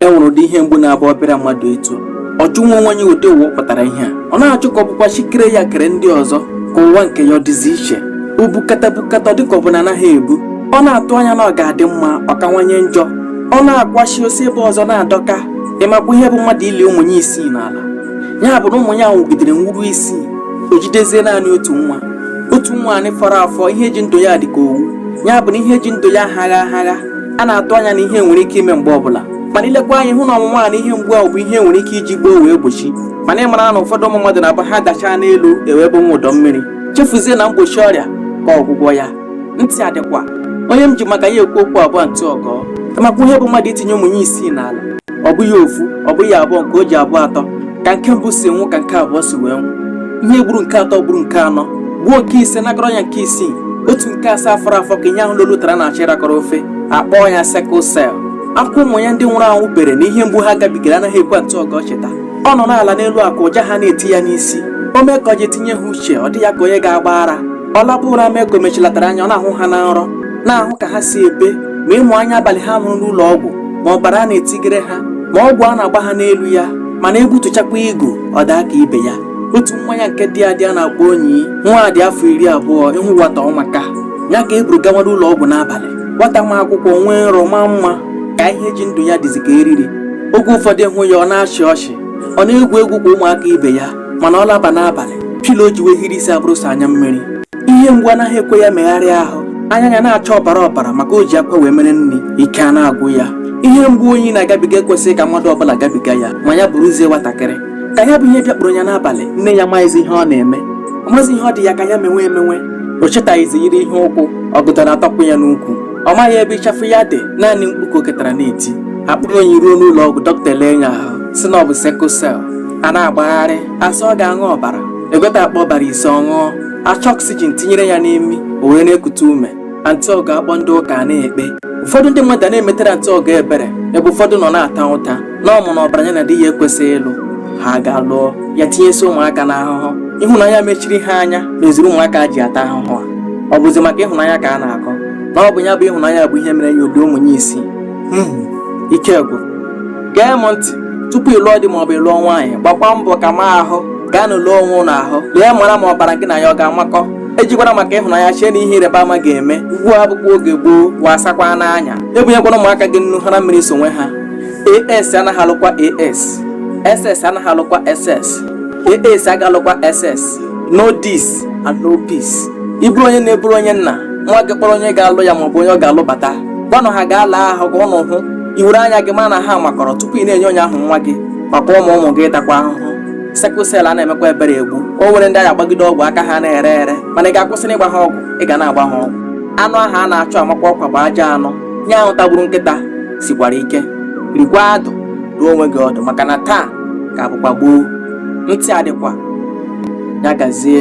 e nwere ụdị ihe mgbu na-abụ ọ bịara mmadụ etu ọ jụwa onwe ya ụdị ụwa ọ pụtara ihe a ọ na-ajụ ka ọ bụkwa chi kere ya kere ndị ọzọ ka ụwa nke ya ọ dịzi iche o bukata bukata ọ dịka ọ bụ na anaghị ebu ọ na-atụ anya na ọ ga-adị mma ọ kawanye njọ ọ na-akwachi o si ebe ọzọ na-adọka ị makwa ihe bụ mmadụ ili ụmụ ya isii n'ala ya bụ na ụmụ ya nwụgidere nwụruo isii o jidezie naanị otu nwa otu nwaanyị fọrọ afọ ihe ji ndụ ya dị ka owu ya bụ na ihe ji ndụ ya aghagha aghagha a na-atụ anya na ihe nwere ike ime mgbe ọbụla mana i lekwa anya hụ na ọnwụnwa a na ihe mgbu ahụ bụ ihe e nwere ike iji gboo wee gbochie mana ị mara na ụfọdụ ụmụ mmadụ na-abụ ha dachaa n'elu ewebe nwa ụdọ mmiri chefuzie na mgbochi ọrịa ka ọgwụgwọ ya ntị adịkwa onye m ji maka ya ekwu okwu a bụ antị ọgọ ị makwa ihe bụ mmadụ itinye ụmụ ya isii n'ala ọ bụghị ofu ọ bụghị abụọ nke o ji abụ atọ ka nke mbụ si nwụ ka nke abụọ si wee nwụ ihe gburu nke atọ gburu nke anọ gbuo nke ise nakọrọ ya nke isii otu nke asaa fọrọ afọ ka ihe ahụ loro ụtara na-achọ ịrakọrọ ofe a kpọọ ya sickle cell akwa ụmụ ya ndị nwụrụ anwụ bere na ihe mgbu ha gabigara anaghị ekwe antị ọgọ cheta ọ nọ n'ala n'elu akwa ụja ha na-eti ya n'isi o mee ka o ji tinye ha uche ọ dị ya ka onye ga-agba ara ọ laba ụra mee ka o mechilatara anya ọ na-ahụ ha na nrọ na-ahụ ka ha si ebe ma ịmụ anya abalị ha nwụrụ n'ụlọ ọgwụ ma ọbara a na-etinyere ha ma ọgwụ a na-agba ha n'elu ya mana egbutuchakwa igu ọ daa ka ibe ya otu nwa ya nke dị adị a na-akpọ onyi nwa dị afọ iri abụọ ị hụ nwata ọ maka ya ka e buru gawara ụlọ ọgwụ n'abalị nwata ma akwụkwọ nwee nrọ maa mma ka ihe ji ndụ ya dịzi ka eriri oge ụfọdụ ị hụ ya ọ na-achị ọchị ọ na-egwu egwu ka ụmụaka ibe ya mana ọ laba n'abalị pilo o ji wee hiri isi abụrụ sọ anya mmiri ihe mgbu anaghị ekwe ya megharịa ahụ anya ya na-acha ọbara ọbara maka o ji akwa wee mere nri ike a na-agwụ ya ihe mgbu onyi na-agabiga ekwesịghị ka mmadụ ọbụla gabiga ya ma ya bụrụzie nwatakịrị ka ya bụ ihe bịakpụrụ ya n'abalị nne ya maghịzi ihe ọ na-eme ọ maghịzi ihe ọ dị ya ka ya menwe emenwe o chetaghịzi yiri ihe ụkwụ ọgọdọ ya atọpụ ya n'ukwu ọ maghị ebe ịchafụ ya dị naanị mkpu ka o ketara na-eti a kpọrọ onyi ruo n'ụlọ ọgwụ dọkịta ele ya ahụ sị na ọ bụ sickle cell a na-agbagharị a sị ọ ga-aṅụ ọbara e gote akpa ọbara ise ọ ṅụọ a chọọ oxygen tinyere ya n'imi o were na-ekute ume antị ọgọ akpọọ ndị ụka a na-ekpe ụfọdụ ndị mmadụ a na-emetere antị ọgọ ebere ebe ụfọdụ nọ na-ata ụta na ọ ma na ọbara ya na di ya ekwesịghị ịlụ ha gaa lụọ ya tinyesi ụmụaka n'ahụhụ ịhụnanya mechiri ha anya meziri ụmụaka ji ata ahụhụ a ọ bụzi maka ịhụnanya ka a na-akọ na ọ bụ ya bụ ịhụnanya bụ ihe mere ya obi ụmụ ya isii ike gwụrụ gee m ntị tupu ị lụọ di maọbụ ị lụọ nwaanyị gbakwa mbọ ka ma ahụ gaanụ lee onwe ụnụ ahụ lee mara ma ọbara gị na ya ọ ga-amakọ ejikwara maka ịhụnanya chee na ihe ịrịba ama ga-eme ugbu a abụkwa oge gboo wasakwanụ anya ebunyekwana ụmụaka gị nnu hara mmiri sonwe ha as anaghị alụkwa as ss anaghị alụkwa ss as aga alụkwa ss know this and know peace ị bụrụ onye nne ị bụrụ onye nna nwa gị kpọrọ onye ga-alụ ya maọbụ onye ọ ga-alụ bata gwanụ ha gaa lee ahụ ka ụnụ hụ i were anya gị ma na ha makọrọ tupu ị na-enye onye ahụ nwa gị maka ụmụ ụmụ gị ịtakwa ahụhụ sickle cell ana emekwa ebere egbu o nwere ndị a ga-agbagide ọgwụ aka ha na-ere ere mana ị ga-akwụsị n'ịgba ha ọgwụ ị ga na-agba ha ọgwụ anụ ahụ a na-achụ amakwa ọkwa bụ ajọ anụ ihe ahụ tagburu nkịta sikwara ike rikwa adụ dụọ onwe gị ọdụ maka na taa ka bụkwa gboo ntị adịkwa ya gazie